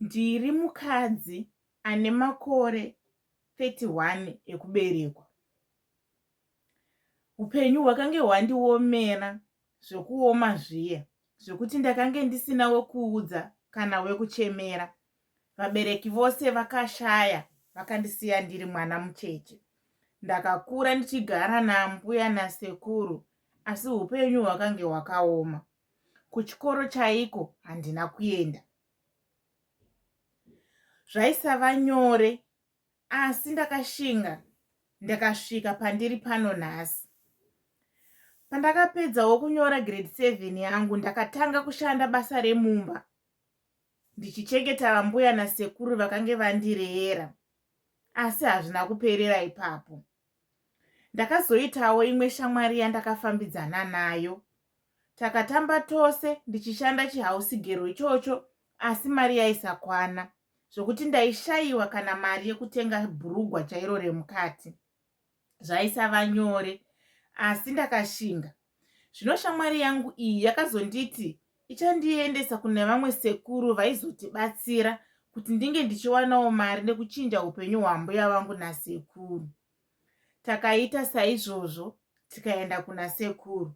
Ndiri mukadzi ane makore 31 ekuberekwa. Upenyu hwakange hwandiomera zvekuoma zviye zvekuti ndakange ndisina wekuudza kana wekuchemera. Vabereki vose vakashaya vakandisiya ndiri mwana mucheche. Ndakakura ndichigara naambuya nasekuru asi upenyu hwakange hwakaoma. kuchikoro chaiko handina kuenda zvaisava nyore asi ndakashinga ndakasvika pandiri pano nhasi pandakapedzawo kunyora grade seven yangu ndakatanga kushanda basa remumba ndichichengeta vambuya nasekuru vakange vandireera asi hazvina kuperera ipapo Ndakazoitawo imwe shamwari yandakafambidzana nayo. Takatamba tose ndichishanda chihausigero ichocho asi mari yaisakwana zvokuti ndaishayiwa kana mari yekutenga bhurugwa chairo remukati. Zvaisava nyore asi ndakashinga. zvino shamwari yangu iyi yakazonditi ichandiendesa kune vamwe sekuru vaizotibatsira kuti ndinge ndichiwanawo mari nekuchinja upenyu hwambuya vangu nasekuru takaita saizvozvo tikaenda kuna sekuru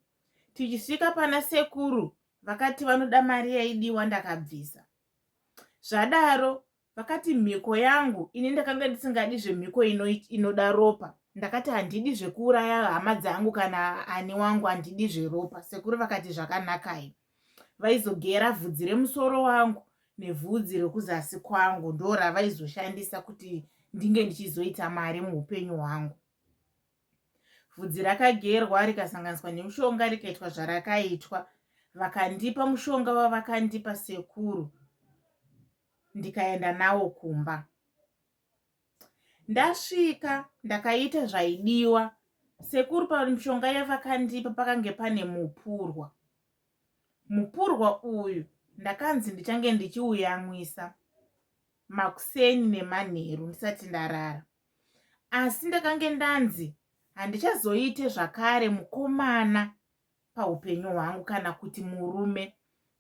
tichisvika pana sekuru vakati vanoda mari yaidiwa ndakabvisa zvadaro vakati mhiko yangu ini ndakanga ndisingadi zvemhiko ino inoda ropa ndakati handidi zvekuuraya hama dzangu kana ani wangu handidi zveropa sekuru vakati zvakanakai vaizogera vhudzi remusoro wangu nevhudzi rekuzasi kwangu ndo ravaizoshandisa kuti ndinge ndichizoita mari muupenyu hwangu vhudzi rakagerwa rikasanganiswa nemushonga rikaitwa zvarakaitwa vakandipa mushonga wavakandipa sekuru ndikaenda nawo kumba. Ndasvika ndakaita zvaidiwa sekuru pamishonga yavakandipa pakange pane mupurwa. Mupurwa uyu ndakanzi ndichange ndichiuyamwisa makuseni nemanheru ndisati ndarara. Asi ndakange ndanzi handichazoite zvakare mukomana paupenyu hwangu kana kuti murume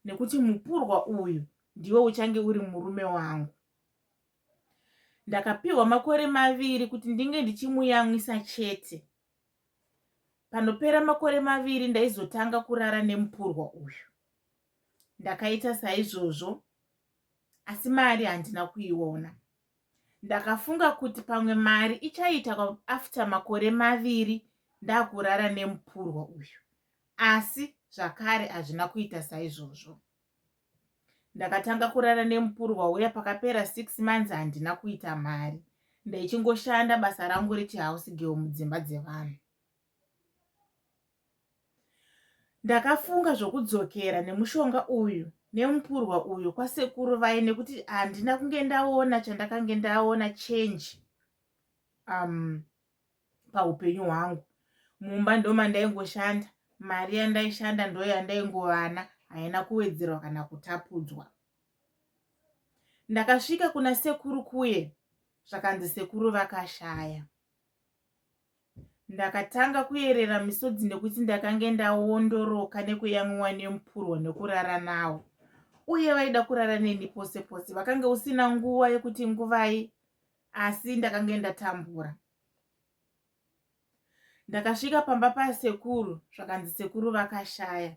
nekuti mupurwa uyu ndiwe uchange uri murume wangu ndakapiwa makore maviri kuti ndinge ndichimuyamwisa chete panopera makore maviri ndaizotanga kurara nemupurwa uyu ndakaita saizvozvo asi mari handina kuiona ndakafunga kuti pamwe mari ichaita after makore maviri ndakurara nemupurwa uyu asi zvakare hazvina kuita saizvozvo ndakatanga kurara nemupurwa uya pakapera six months handina kuita mari ndaichingoshanda basa rangu rechihouse girl mudzimba dzevanhu Ndakafunga zvokudzokera nemushonga uyu nemupurwa uyu kwasekuru vaye nekuti handina kunge ndaona chandakange ndaona change um, paupenyu hwangu mumba ndomandaingoshanda mari yandaishanda ndo yandaingovana haina kuwedzerwa kana kutapudzwa ndakasvika kuna sekuru kuye zvakanzi sekuru vakashaya Ndakatanga kuyerera misodzi nekuti ndakange ndawondoroka nekuyamwiwa nemupurwa nekurara nawo. Uye vaida kurara neni pose pose. Vakange usina nguva yekuti nguvai asi ndakange ndatambura. Ndakasvika pamba pasekuru zvakanzi sekuru vakashaya.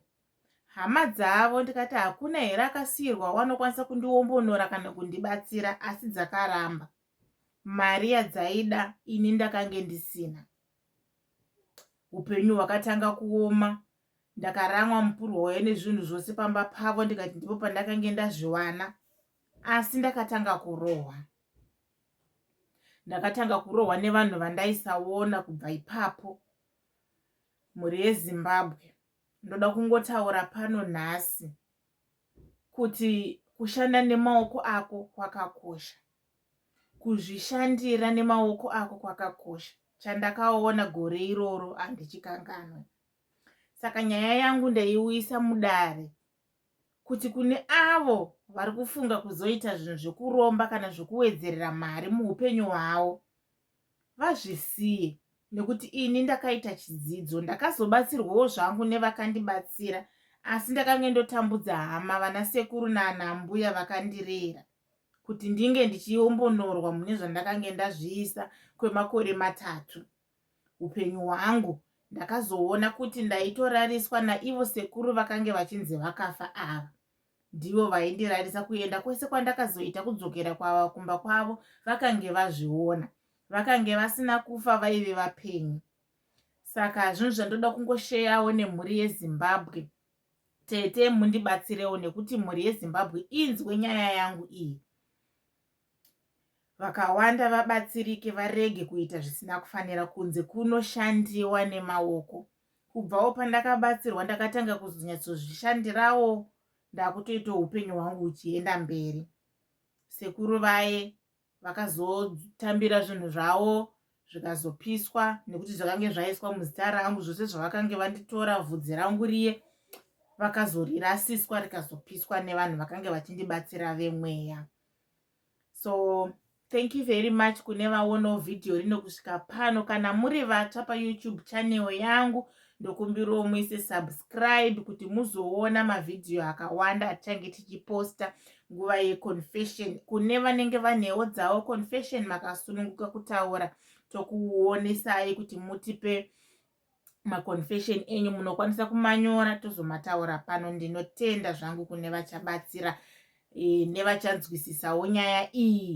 Hama dzavo ndikati hakuna here akasiyirwa wanokwanisa kundiwombonora kana kundibatsira asi dzakaramba. mari yadzaida ini ndakange ndisina upenyu hwakatanga kuoma ndakaramwa mupurwa wayo nezvinhu zvose pamba pavo ndikati ndipo pandakange ndazviwana asi ndakatanga kurohwa ndakatanga kurohwa nevanhu vandaisaona kubva ipapo mhuri yezimbabwe ndoda kungotaura pano nhasi kuti kushanda nemaoko ako kwakakosha kuzvishandira nemaoko ako kwakakosha chandakaona gore iroro handichikanganwe saka nyaya yangu ndaiuyisa mudare kuti kune avo vari kufunga kuzoita zvinhu zvekuromba kana zvekuwedzerera mari muupenyu hwavo vazvisiye nekuti ini ndakaita chidzidzo ndakazobatsirwawo zvangu nevakandibatsira asi ndakange ndotambudza hama vana sekuru naana mbuya vakandirera kuti ndinge ndichiombonorwa mune zvandakange ndazviisa kwemakore matatu upenyu hwangu ndakazoona kuti ndaitorariswa naivo sekuru vakange vachinzi vakafa ava ndivo vaindirarisa kuenda kwese kwandakazoita kudzokera kwava kumba kwavo vakange vazviona vakange vasina kufa vaive vapenyu saka zvinhu zvandoda kungosheyawo nemhuri yezimbabwe tete mundibatsirewo nekuti mhuri yezimbabwe inzwe nyaya yangu iyi vakawanda vabatsirike varege kuita zvisina kufanira kunze kunoshandiwa nemaoko kubvawo pandakabatsirwa ndakatanga kuzonyatsozvishandirawo ndakutoita upenyu hwangu uchienda mberi sekuru vaye vakazotambira zvinhu zvavo zvikazopiswa nekuti zvakange zvaiswa muzita rangu zvose zvavakange vanditora vhudzi rangu riye vakazorirasiswa rikazopiswa nevanhu vakange vachindibatsira vemweya so thank you very much kune vaonawo vhidhiyo rino kusvika pano kana muri vatsva payoutube channel yangu ndokumbirawo muise subscribe kuti muzoona mavhidhiyo akawanda atichange tichiposta nguva yeconfession kune vanenge vanewo dzavo confession makasununguka kutaura tokuonesai kuti mutipe maconfession enyu munokwanisa kumanyora tozomataura pano ndinotenda zvangu kune vachabatsira e, nevachanzwisisawo nyaya iyi